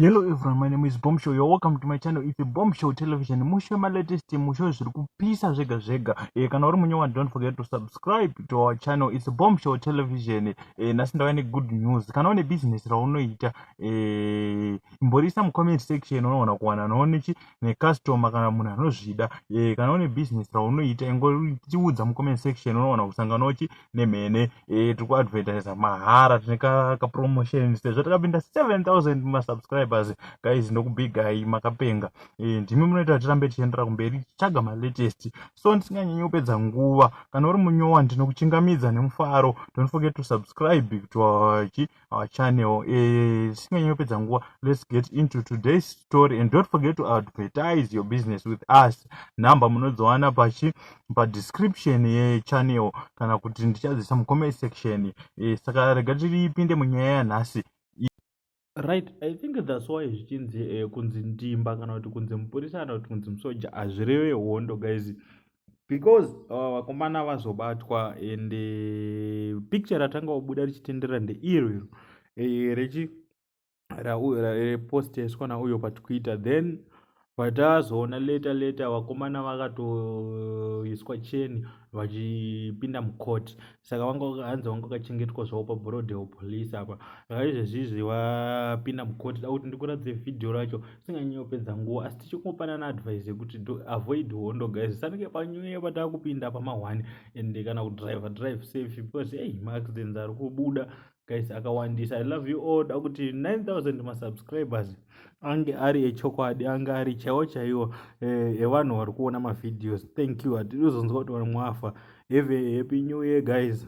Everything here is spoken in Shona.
Hello everyone, my name is Bombshow. You're welcome to my channel. It's Bombshow Television. Mushe ma latest mushe zviri kupisa zvega zvega. Eh kana uri munyewa don't forget to subscribe to our channel. It's Bombshow Television. Eh nasi ndava ne good news. Kana une business raunoita eh imborisa mu comment section unoona kuwana noone chi ne customer kana munhu anozvida. Eh kana une business raunoita ingoriudza mu comment section unoona kusangana uchi nemhene eh, tiri kuadvertisa mahara tine kapromotion sezvo takapinda 7000 masubscribers guys ndokubigai makapenga eh, ndimi munoita kuti tirambe tichiendera kumberi tichitsvaga malatest so ndisinganyanyi kupedza nguva kana uri munyowa ndinokuchingamidza nemufaro don't forget to subscribe to our our channel eh, tisinganyi uh, kupedza nguva let's get into today's story and don't forget to advertise your business with us number munodziwana pachi padescription yechannel kana kuti ndichadzisa mucomment section eh, saka rega tiripinde munyaya yanhasi right i think thats why zvichinzi eh, kunzi ndimba kana kuti kunzi mupurisa kana kuti kunzi musoja hazvireve hondo guys because uh, vakomana uh, vazobatwa and uh, picture ratanga kubuda richitenderera ndeiro iro eh, rechi reposteswa nauyo patwitter then vatazoona leta leta vakomana vakatoiswa cheni vachipinda mucourt saka wanga hanzi wanga wakachengetwa zvawo pabroadel police apa saka izvezvizvi wapinda mukoti da kuti ndikuratidze vhidhiyo racho singanyanyopedza nguva asi tichikungopanana advice yekuti avoid hondo guys sanike panyuye pataa kupinda pamahwani and kana kudriver drive safe because ei maaccidents ari kubuda guys akawandisa i love you all dakuti 9000 masubscribers ange ari echokwadi ange ari chaiwo chaiwo eh, evanhu vari kuona mavideos thank you hatidi kuzonzwa kuti vanhu mwafa have a happy new year guys